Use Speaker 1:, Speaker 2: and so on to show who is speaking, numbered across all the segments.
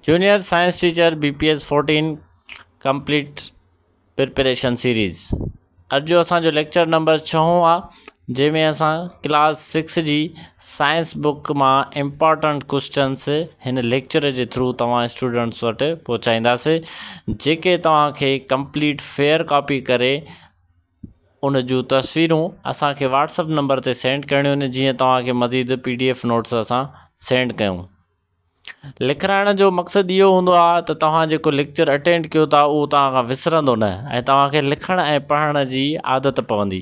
Speaker 1: Junior science teacher B P S fourteen complete preparation series اڄ جو اسان جو ليڪچر نمبر ڇهون آ جنهن ۾ اسان ڪلاس سڪس جي سائنس بوڪ مان امپارٽنٽ ڪوسٽنس هن ليڪچر جي ٿرو توهان اسٽوڊنٽس وٽ پهچائينداسي جيڪي توهان کي ڪمپليٽ فيئر ڪاپي ڪري ان جون تصويرون اسان کي واٽس اپ نمبر تي سينڊ ڪرڻيون آهن جيئن توهان کي مزيد پي ڊي ايف نوٽس اسان سينڊ ڪيون. لکرائڻ جو مقصد اهو هوندو آهي ته توهان جيڪو ليڪچر اٽينڊ ڪيو ٿا اهو توهان کان وسرندو نه ۽ توهان کي لکڻ ۽ پڙهڻ جي عادت پوندي.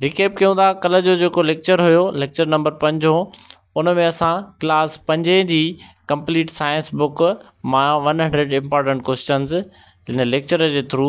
Speaker 1: ريڪيپ ڪيون ٿا ڪلهه جو جيڪو ليڪچر هيو ليڪچر نمبر پنج هو ان ۾ اسان ڪلاس پنجين جي ڪمپليٽ سائنس بوڪ مان ون هنڊريڊ امپارٽنٽ ڪوئسچنز هن ليڪچر جي ٿرو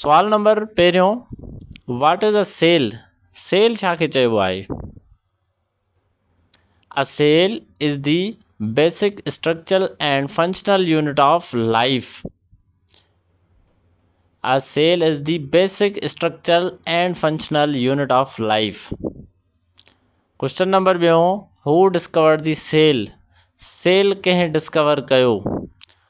Speaker 1: سوال نمبر پهريون what is a cell cell ڇا کي چئبو آهي a cell is the basic structural and functional unit of life a cell is the basic structural and functional unit of life question number ٻيون هو ڊسڪورڊ دي سيل سيل ڪنهن discover ڪيو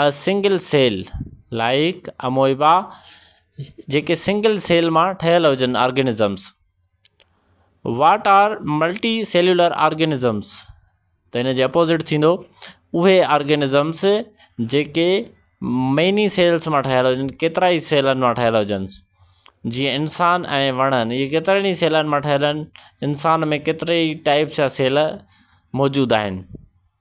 Speaker 1: a single cell like amoeba جيڪي single cell مان ٺهيل هجن organisms what are multicellular سيلولر آرگينزمس ته ان جي اپوزٽ ٿيندو اهي آرگينزمس جيڪي ميني سيلس مان ٺهيل هجن ڪيترائي سيلن مان ٺهيل هجن جيئن انسان ۽ وڻن اهي ڪيترن ئي سيلن مان ٺهيل آهن انسان ۾ ڪيترائي ٽائيپس جا سيل موجود آهن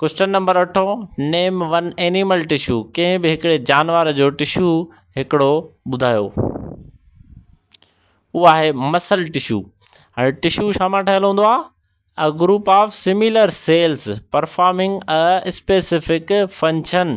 Speaker 1: ڪوئسچن نمبر اٺون، نيم ون اينيمل ٽشو، ڪنهن به هڪڙي جانور جو ٽشو هڪڙو ٻڌايو. او آهي مسل ٽشو. هاڻي ٽشو ڇا مان ٺهيل هوندو آهي؟ A group of similar cells performing a specific function.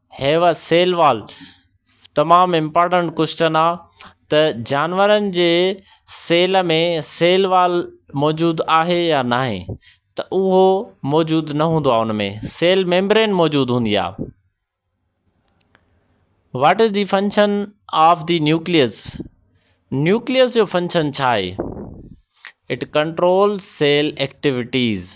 Speaker 1: هيء سيل وال تمام امپارٽنٽ ڪوسٽن آ ته جانورن جي سيل ۾ سيل وال موجود آهي يا ناهي ته اهو موجود نه هوندو آ ان ۾ سيل ميمبرين موجود هوندي آ what is the function of the nucleus nucleus جو فنڪشن ڇا آهي it control cell activities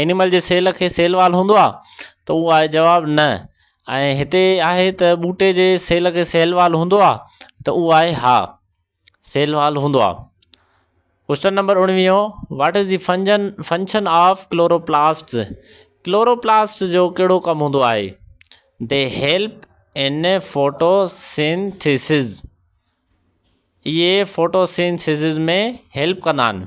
Speaker 1: animal جي سيل کي سيل وال هوندو آ ته اهو آهي جواب نه ۽ هتي آهي ته ٻوٽي جي سيل کي سيل وال هوندو آ ته اهو آهي ها سيل وال هوندو آ ڪوشچن نمبر اڻويهو what is the function function of chloroplast chloroplast جو ڪهڙو ڪم هوندو آهي the help in photosynthesis اهي فوٽو سينٿيسز ۾ هيلپ ڪندا آهن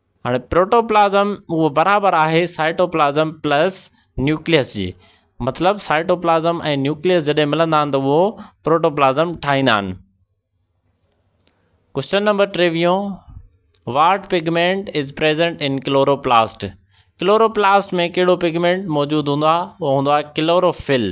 Speaker 1: هاڻي پروٽوپلازم اهو برابر آهي سائٽوپلازم پلس نيوڪليس جي مطلب سائٽوپلازم ۽ نيوڪليس جڏهن ملندا آهن ته اهو پروٽوپلازم ٺاهيندا آهن. ڪوشچن نمبر ٽيويهون what pigment is present in chloroplast chloroplast ۾ ڪهڙو پگمينٽ موجود هوندو آهي اهو هوندو آهي chlorophyll.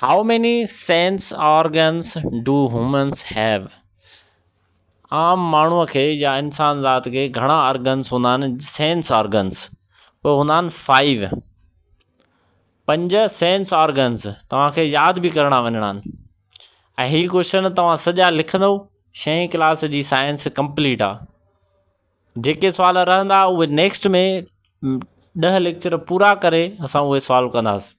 Speaker 1: How many sense organs do humans have؟ عام ماڻهوء کي يا انسان ذات کي گهڻا ارگنس هوندا آهن، سينس آرگنس، اهي هوندا آهن فائيو، پنج سينس آرگنس توهان کي ياد به ڪرڻا وڃڻا آهن ۽ هي ڪوشچن توهان سڄا لکندو شئين ڪلاس جي سائنس ڪمپليٽ آهي جيڪي سوال رهندا اهي نيڪسٽ ۾ ڏهه ليڪچر پورا ڪري اسان اهي سالو ڪنداسين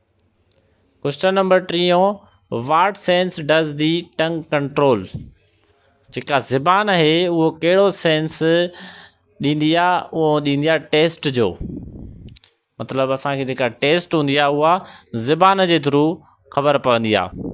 Speaker 1: ڪوئسٽن نمبر ٽيون What sense does the tongue control جيڪا زبان آهي اهو ڪهڙو سينس ڏيندي آهي اهو ڏيندي آهي ٽيسٽ جو مطلب اسانکي جيڪا ٽيسٽ هوندي آهي اها زبان جي ٿرو خبر پوندي آهي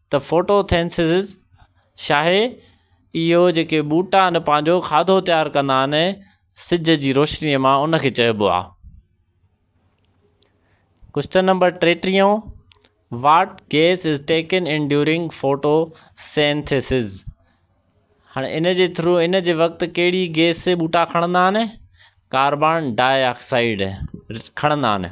Speaker 1: ته فوٽو ٿينسز شاهي اهو جيڪي ٻوٽا آهن پنهنجو کاڌو تيار ڪندا آهن سج جي روشني مان ان کي چئبو آهي ڪوشچن نمبر ٽيٽيهون what gas is taken in during photosynthesis هاڻي ان جي ٿرو ان جي وقت ڪهڙي گيس ٻوٽا کڻندا آهن ڪاربان ڊاء آڪسائيڊ کڻندا آهن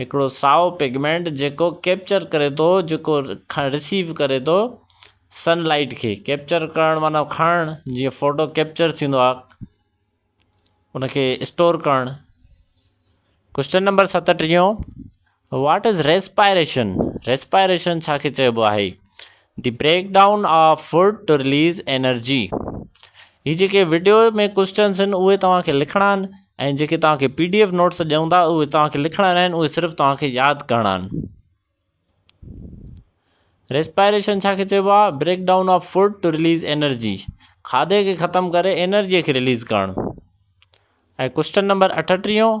Speaker 1: هڪڙو سائو پگمينٽ جيڪو ڪيپچر ڪري ٿو جيڪو رسيو ڪري ٿو سن لائٽ کي ڪيپچر ڪرڻ معنيٰ کڻڻ جيئن فوٽو ڪيپچر ٿيندو آهي ان کي اسٽور ڪرڻ ڪوشچن نمبر ستٽيهون واٽ از ريسپائريشن ريسپائريشن ڇا کي چئبو آهي the breakdown of food to release energy هي جيڪي وڊيو ۾ ڪوسٽنس آهن اهي توهان کي لکڻا آهن ۽ جيڪي توهان کي پي ڊي ايف نوٽس ڏيون ٿا اهي توهان کي لکڻا نه آهن اهي صرف توهان کي ياد ڪرڻا آهن ريسپائريشن ڇا کي چئبو آهي breakdown of food to release energy کاڌي کي ختم ڪري انرجي کي رليز ڪرڻ ۽ ڪوسٽن نمبر اٺٽيهون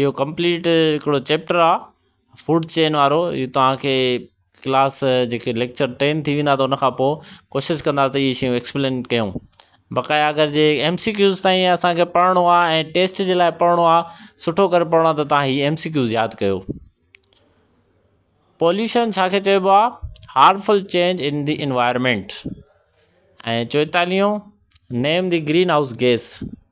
Speaker 1: اهو ڪمپليٽ هڪڙو چيپٽر آ فوڊ چين وارو اهو تهانکي ڪلاس جيڪي ليڪچر ٽين ٿي ويندا ان کان پوء ڪوشش ڪندا ته اهي شيون ايڪسپلين ڪيون بقايا اگر جي ايم سي ڪيوز تائين اسانکي پڙهڻو آهي ۽ ٽيسٽ جي لاء پڙهڻو آ سٺو ڪري پڙهڻو آ ته تهان هي ايم سي ڪيوز ياد ڪيو پوليوشن ڇا کي چئبو آ harmful change in the environment ۽ چوئتاليهون name the greenhouse gas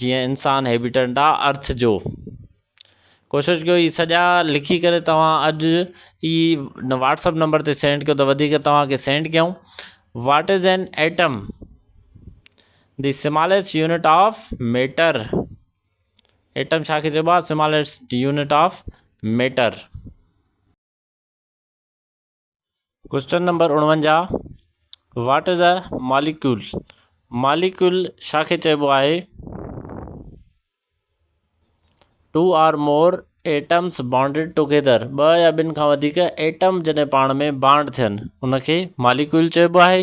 Speaker 1: جيئن انسان هيبيٽنٽ آ ارٿ جو. ڪوشش ڪيو هي سڄا لکي ڪري توهان اڄ ئي واٽسپ نمبر تي سينڊ ڪيو ته وڌيڪ توهان کي سينڊ ڪيون what is an atom the smallest unit of matter atom ڇا کي چئبو آ smallest unit of matter question number اڻونجاهه what is a molecule molecule ڇا کي چئبو آهي two or more atoms bonded together ٻه يا ٻن کان وڌيڪ ايٽم جڏهن پاڻ ۾ بانڊ ٿين ان کي ماليڪيول چئبو آهي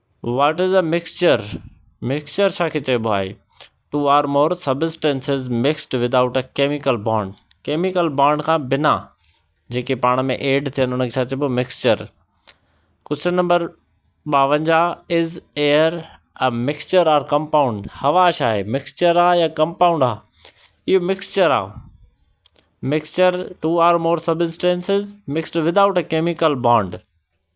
Speaker 1: What is a mixture؟ Mixture ڇا کي چئبو آهي؟ Two or more substances mixed without a chemical bond chemical bond کان بنا جيڪي پاڻ ۾ ايڊ ٿين ان کي ڇا چئبو مڪسچر ڪوشچن نمبر ٻاونجاهه is air a mixture or compound هوا ڇا آهي مڪسچر آ يا ڪمپائونڊ آ اهو مڪسچر آ mixture two or more substances mixed without a chemical bond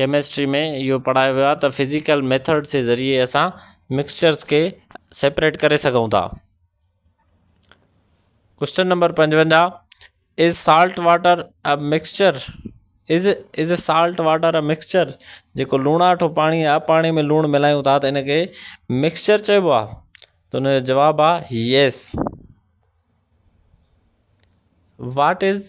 Speaker 1: chemistry ۾ اهو پڙهايو ويو آهي ته فزيڪل ميٿڊ جي ذريعي اسان مڪسچرس کي سيپريٽ ڪري سگهون ٿا ڪوشچن نمبر پنجونجاهه is salt water a mixture is is a salt water a mixture جيڪو لوڻاٺو پاڻي آ پاڻي ۾ لوڻ ملايون ٿا ته ان کي مڪسچر چئبو آ ته ان جو جواب آ yes what is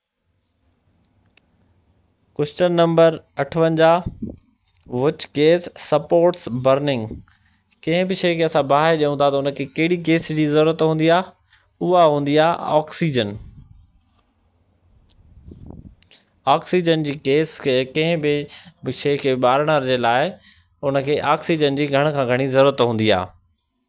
Speaker 1: question number اٺونجاهه وچ گيس سپورٽس برننگ ڪنهن به شيء کي اسان باهه ڏيون ٿا ته ان کي ڪهڙي گيس جي ضرورت هوندي آهي اها هوندي آهي آڪسيجن آڪسيجن جي گيس کي ڪنهن به شيء کي ٻارڻ جي لاء ان کي آڪسيجن جي گهڻ کان گهڻي ضرورت هوندي آهي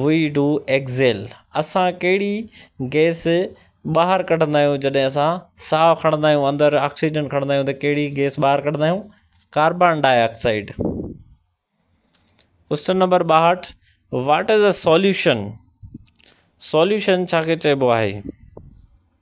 Speaker 1: وي ڊو ايڪزيل اسان ڪهڙي گئس ٻاهر ڪڍندا آهيون جڏهن اسان ساهه کڻندا آهيون اندر آڪسيجن کڻندا آهيون ته ڪهڙي گئس ٻاهر ڪڍندا آهيون carbon dioxide question number ٻاهٺ what is a solution solution ڇا کي چئبو آهي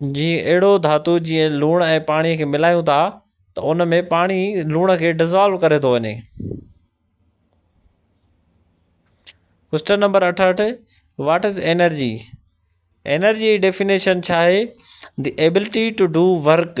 Speaker 1: جي اهڙو ڌاتو جيئن لوڻ ۽ پاڻي کي ملايون ٿا ته ان ۾ پاڻي لوڻ کي ڊزالو ڪري ٿو وڃي ڪوشچن نمبر اٺهٺ واٽ از اينرجي اينرجي جي ڊيفينيشن ڇا آهي the ability to do work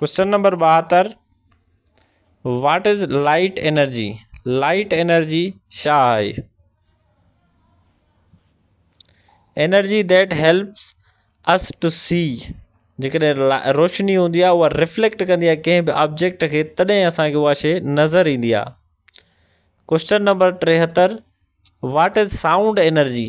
Speaker 1: question number ٻاهتر what is light energy light energy ڇا آهي energy that helps us to see جيڪڏهن روشني هوندي آهي اها رفليڪٽ ڪندي آهي ڪنهن به آبجيڪٽ کي تڏهن اسانکي اها شي نظر ايندي آهي ڪوشچن نمبر ٽيهتر واٽ از سائونڊ انرجي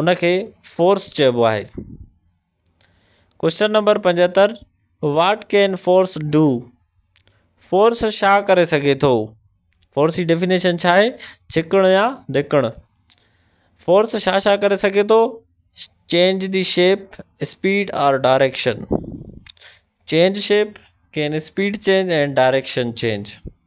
Speaker 1: ان کي فورس چئبو آهي. ڪوشچن نمبر پنجهتر what can force do force شا ڪري سگهي ٿو فورس جي ڊيفينيشن شا آهي ڇڪڻ يا ڌڪڻ فورس شا شا ڪري سگهي ٿو change the shape speed or direction change shape can speed change direction change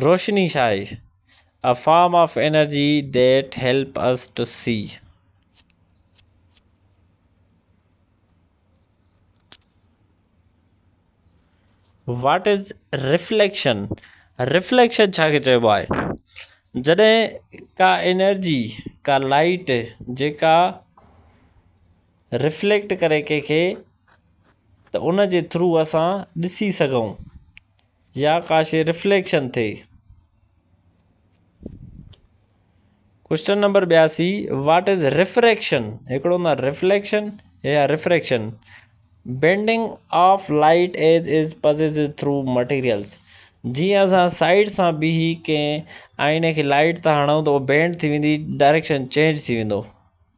Speaker 1: روشني ڇا آهي؟ A form of energy that help us to see. What is reflection reflection ڇا کي چئبو آهي جڏهن ڪا انرجي ڪا لائٽ جيڪا رفليڪٽ ڪري ڪنهن کي ته ان جي ٿرو اسان ڏسي سگهون يا ڪا شيء رفليڪشن ٿئي ڪوشچن نمبر ٻياسي واٽ از رفريڪشن هڪڙو هوندو آهي رفليڪشن يا refraction bending of light as as passes through materials جيئن اسان سائيڊ سان بيهي ڪنهن آئيني کي لائٽ ٿا هڻون ته هو بينڊ ٿي ويندي ڊائريڪشن چينج ٿي ويندو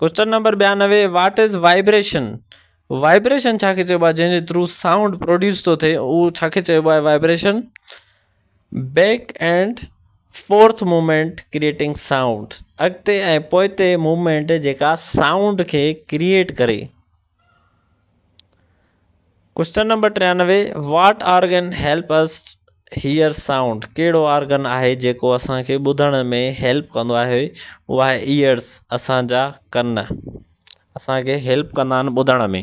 Speaker 1: ڪوئسچن نمبر ٻيانوي واٽ از وائبريشن وائبريشن ڇا کي چئبو آهي جنهن جي ٿرو سائونڊ پروڊيوس ٿو ٿئي اهو ڇا کي چئبو آهي vibration back and forth movement creating sound اڳتي ۽ پوئتي موومينٽ جيڪا سائونڊ کي ڪريئيٽ ڪري ڪوئسچن نمبر ٽيانوي what organ help us hear sound ڪهڙو آرگن آهي جيڪو اسان کي ٻڌڻ ۾ هيلپ ڪندو آهي اهو آهي ايئرس اسان جا ڪن اسان کي هيلپ ڪندا آهن ٻڌڻ ۾.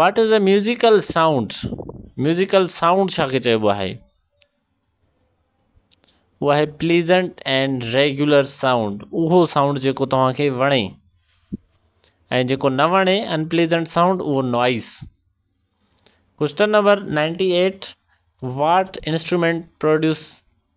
Speaker 1: What is a musical sound musical sound ڇا کي چئبو آهي اهو آهي پليزنٽ اينڊ ريگيولر سائونڊ اهو سائونڊ جيڪو توهان کي وڻي ۽ جيڪو نه وڻي ان پليزنٽ سائونڊ اهو noise question number ninety eight what instrument produce